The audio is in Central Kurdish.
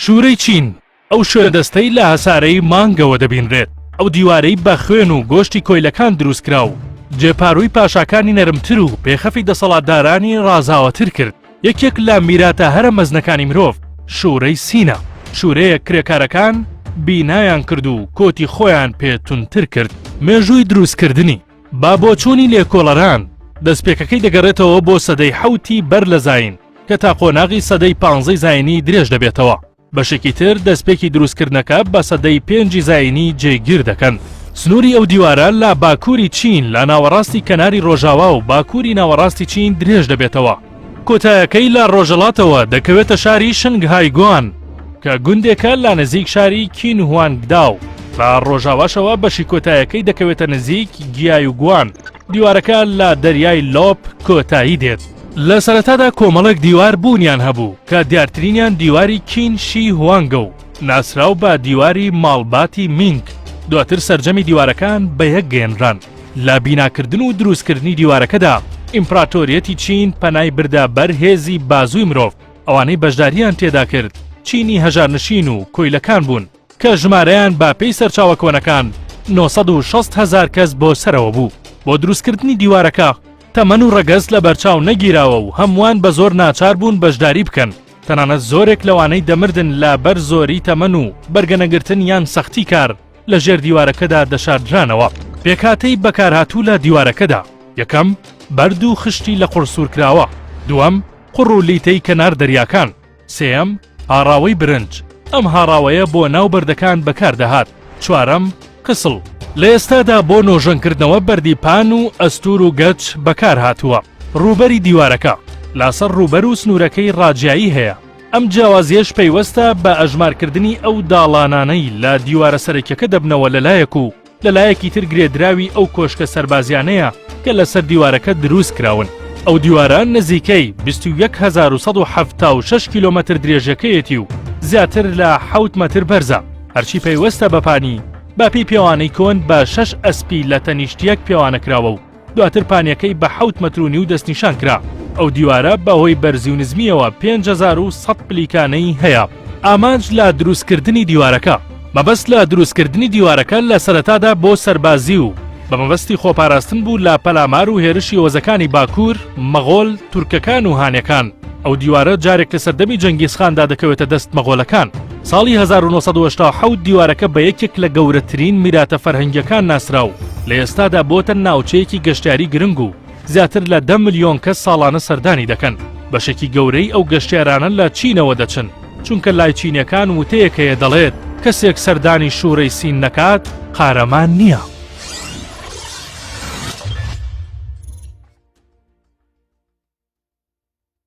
شوورەی چین، ئەو شوێندەستەی لە هەسارەی مانگەوە دەبینرێت، ئەو دیوارەی بە خوێن و گۆشتی کۆیلەکان دروستکرا و جێ پارووی پاشاکانی نەرمتر و پێخەفی دەسەڵاتدارانی ڕازاوەتر کرد، یەکێک لە میراتە هەرە مەزنەکانی مرۆڤ، شوورەی سینە، شوورەیەک کرێکارەکان بینایان کرد و کۆتی خۆیان پێ توندتر کرد. مێژووی دروستکردنی. با بۆچوونی لێکۆڵەران، دەستپێکەکەی دەگەڕێتەوە بۆ سەدەی حەوتی بەر لە زایین کە تا قۆناغی سەدەی پانزەی زایینی درێژ دەبێتەوە. بەشێکی تر دەستپێکی دروستکردنەکە بە سەدەی پێنجی زایینی جێگیر دەکەن. سنووری ئەو دیوارە لە باکووری چین لە ناوەڕاستی کەناری ڕۆژاوا و باکووری ناوەڕاستی چین درێژ دەبێتەوە. کۆتایەکەی لە ڕۆژەڵاتەوە دەکەوێتە شاری شنگ های گوان کە گوندێکە لە نزیک شاری کین هوانگ داو بە ڕۆژاواشەوە بەشی کۆتایەکەی دەکەوێتە نزیک گیای و گوان دیوارەکە لە دەریای لۆپ کۆتایی دێت لە سەرەتادا کۆمەڵێک دیوار بوونیان هەبوو کە دیارترینیان دیواری کین شی هوانگە و ناسراو بە دیواری ماڵباتی مینگ دواتر سرجەمی دیوارەکان بە یەک گەێنران لە بیناکردن و دروستکردنی دیوارەکەدا ئیمپراتۆریەتی چین پەنای بردە بەر هێزی بازووی مرۆڤ، ئەوانەی بەشدارییان تێدا کرد چینی هەژارنشین و کۆیلەکان بوون کە ژمارەیان بە پێی سەرچاوە کۆنەکان نۆ سەد و شەست هەزار کەس بۆ سەرەوە بوو. بۆ دروستکردنی دیوارەکە تەمەن و ڕەگەز لەبەرچاو نەگیراوە و هەمووان بە زۆر ناچار بوون بەشداری بکەن، تەنانەت زۆرێک لەوانەی دەمردن لە بەر زۆری تەمەن و بەرگەنەگرتن یان سەختی کار، لە ژێر دیوارەکەدا دەشاردرانەوە. پێکهاتەی بەکارهاتوو لە دیوارەکەدا، یەکەم، بەرد و خشتی لە قوڕ سوورکراوە، دووەم، قوڕ و لیتەی کەنار دەریاکان، سێیەم، هاڕاوەی برنج، ئەم هاڕاوەیە بۆ ناو بەردەکان بەکاردەهات، چوارەم، کسڵ، لە ئێستادا بۆ نۆژەنکردنەوە بەردی پان و ئەستوور و گەچ بەکارهاتووە، ڕووبەری دیوارەکە، لاسەر ڕووبەر و سنوورەکەی ڕاجیایی هەیە. ئەم جیاوازییەش پەیوەستە بە ئەژمارکردنی ئەو داڵانانەی لە دیوارە سەرەکیەکە دەبنەوە لە لایەک و لە لایەکی تر گرێدراوی ئەو کۆشکە سەربازیانەیە کە لەسەر دیوارەکە دروست کراون. ئەو دیوارە نزیکەی بیست و یەک هەزار و سەد و حەفتا و شەش کیلۆمەتر درێژەکەیەتی و زیاتر لە حەوت مەتر بەرزە، هەرچی پەیوەستە بە پانی، باپی پێوانەی کۆن بە شەش ئەسپی لە تەنیشت یەک پێوانەکراوە و، دواتر پانیەکەی بە حەوت مەتر و نیو دەستنیشان کرا. ئەو دیوارە بەهۆی بەرزی و نزمییەوە پێنج هەزار و سەد پلیکانەی هەیە. ئامانج لە دروستکردنی دیوارەکە. مەبەست لە دروستکردنی دیوارەکە لە سەرەتادا بۆ سەربازی و بە مەبەستی خۆپاراستن بوو لە پەلامار و هێرشی هۆزەکانی باکوور، مەغۆل، تورکەکان و هانەکان. ئەو دیوارە جارێک لە سەردەمی جەنگیزخاندا دەکەوێتە دەست مەغۆلەکان. ساڵی هەزار و نۆ سەد و هەشتا و حەوت دیوارەکە بە یەکێک لە گەورەترین میراتە فەرهەنگییەکان ناسرا و لە ئێستادا بۆتە ناوچەیەکی گەشتیاری گرنگ و زیاتر لە دە ملیۆن کەس ساڵانە سەردانی دەکەن. بەشێکی گەورەی ئەو گەشتیارانە لە چینەوە دەچن، چونکە لای چینییەکان وتەیەک هەیە دەڵێت، کەسێک سەردانی شوورەی سین نەکات، قارەمان نییە.